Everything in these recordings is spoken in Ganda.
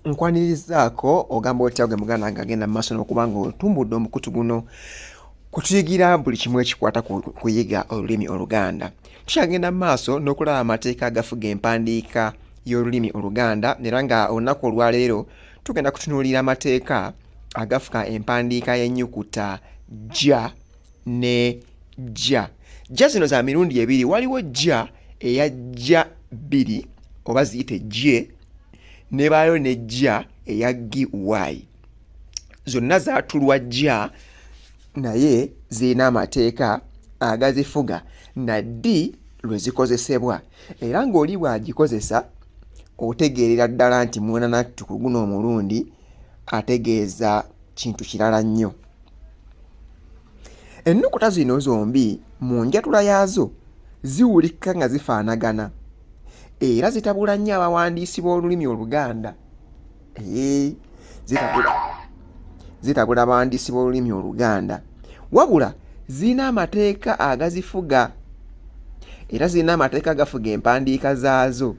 nkwanirizaako ogamba otya gwe muganda nga agenda mu maaso n'okuba nga otumbudde omukutu guno kutuyigira buli kimu ekikwata ku kuyiga olulimi oluganda tukyagenda mu maaso n'okulaba amateeka agafuga empandiika y'olulimi oluganda era nga olunaku olwaleero tugenda kutunuulira amateeka agafuka empandiika y'ennyukuta ja ne jja jja zino za mirundi ebiri waliwo jja eya jja bbiri oba ziyite jje nebaayo ne jja eya gi y zonna zatulwa jja naye zirina amateeka agazifuga na ddi lwe zikozesebwa era ng'oli bw'agikozesa otegeerera ddala nti mwana nattu ku guno omulundi ategeeza kintu kirala nnyo ennukuta zino zombi mu njatula yaazo ziwulikka nga zifaanagana era zitabula nnyo abawandiisi b'olulimi oluganda zitabula abawandiisi b'olulimi oluganda wabula zirina amateeka agazifuga era zirina amateeka agafuga empandiika zaazo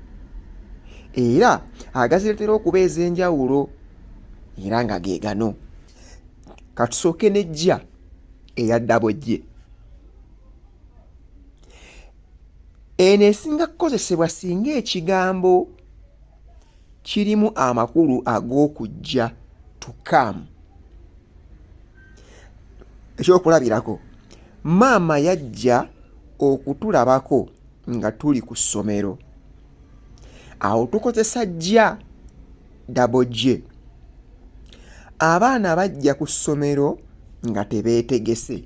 era agazireetera okuba ez'enjawulo era nga ge gano katusooke nejja eya ddabojje eno esinga kukozesebwa singa ekigambo kirimu amakulu ag'okujja to come ekyokulabirako maama yajja okutulabako nga tuli ku ssomero awo tukozesa jja dabogye abaana bajja ku ssomero nga tebeetegese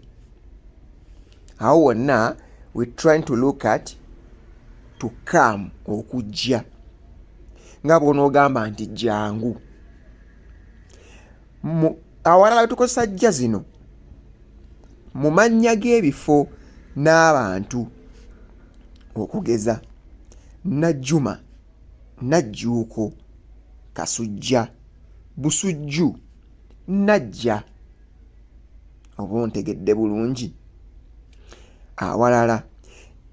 awo wonna we trying to look at to come okujja nga bwonoogamba nti jangu awalala tukozesa jja zino mu mannya g'ebifo n'abantu okugeza najjuma najjuuko kasujja busujju najja oba ontegedde bulungi awalala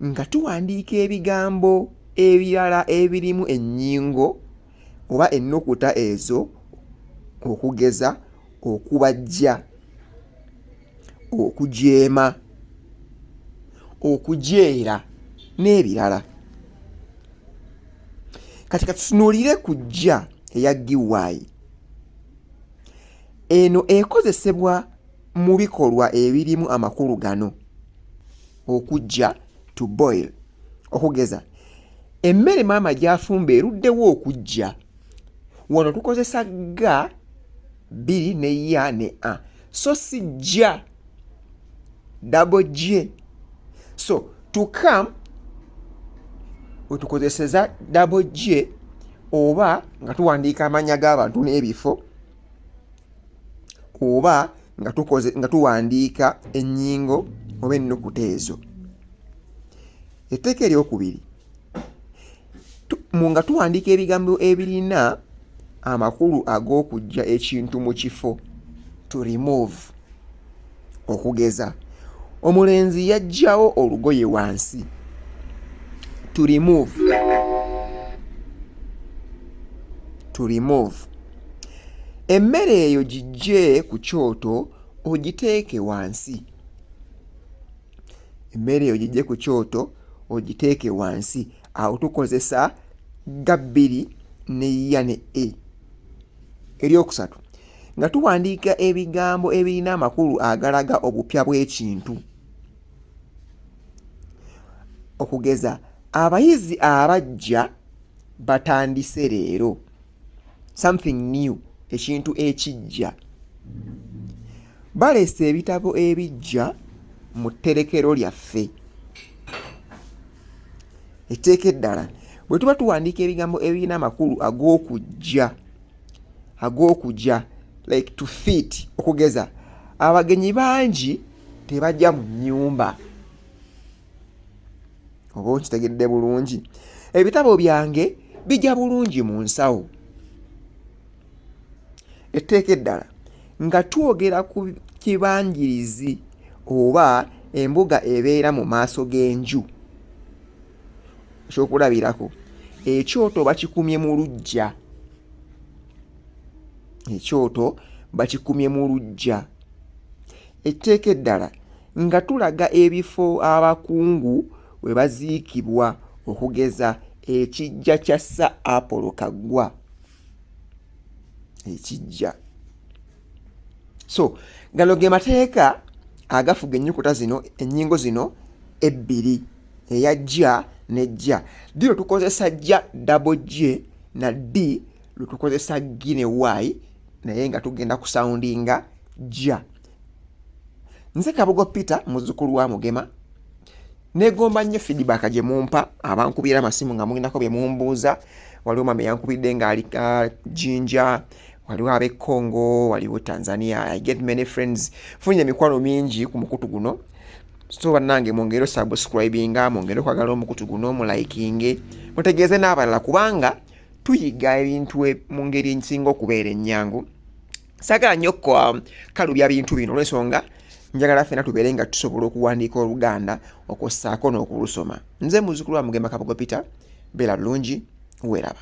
nga tuwandiika ebigambo ebirala ebirimu ennyingo oba ennukuta ezo okugeza okubajja okujeema okujeera n'ebirala kati katutunuulire ku jja eya giwayi eno ekozesebwa mu bikolwa ebirimu amakulu gano okujja to boil okugeza emmere maama gyafumba eruddewo okujja wano tukozesa ga bbiri ne ya ne a so si jja dabo gye so to come wetukozeseza dabo gye oba nga tuwandiika amanya g'abantu n'ebifo oba nga tukoze nga tuwandiika ennyingo oba ennukuta ezo etteeka eryokubiri nga tuwandiika ebigambo ebirina amakulu ag'okujja ekintu mu kifo to remove okugeza omulenzi yajjawo olugoye wansi to remove to remove emmere eyo gijje ku kyoto ogiteeke wansi emmere eyo gijje ku kyoto ogiteeke wansi awo tukozesa ga bbiri ne ya ne e eryokusatu nga tuwandiika ebigambo ebirina amakulu agalaga obupya bw'ekintu okugeza abayizi abajja batandise leero something new ekintu ekijja baleese ebitabo ebijja mu tterekero lyaffe etteeka eddala bwe tuba tuwandiika ebigambo ebirina amakulu ag'okujja ag'okujja like to fit okugeza abagenyi bangi tebajja mu nnyumba oba okitegedde bulungi ebitabo byange bijja bulungi mu nsawo etteeka eddala nga twogera ku kibangirizi oba embuga ebeera mu maaso g'enju ekyokulabirako ekyoto bakikumye mu luggya ekyoto bakikumye mu luggya etteeka eddala nga tulaga ebifo abakungu we baziikibwa okugeza ekiggya kya Sir Apollo Kaggwa ekiggya so gano ge mateeka agafuga ennyukuta zino ennyingo zino ebbiri eya jja ne jja ddi lwe tukozesa jja dabo j na d lwe tukozesa gi ne y naye nga tugenda kusawundinga jja nze kabugo peter muzukulu wa mugema negomba nnyo feedback gye mumpa abankubira amasimu nga mulinako bye mumbuuza waliwo mama yankubidde ng'ali ah, jinja waliwo ab'e congo waliwo tanzania i get many friends funye emikwano mingi ku mukutu guno so bannange mwongere osubscribinga mwongere okwagala omukutu guno mulayikinge mutegeeze n'abalala kubanga tuyiga ebintu e, mu ngeri ensinga okubeera ennyangu sagala nnyo um, kalubya bintu bino olwensonga njagala fena tubeere nga tusobola okuwandiika oluganda okwossaako n'okulusoma nze muzukulu wa mugemba kabugo peter beera bulungi weraba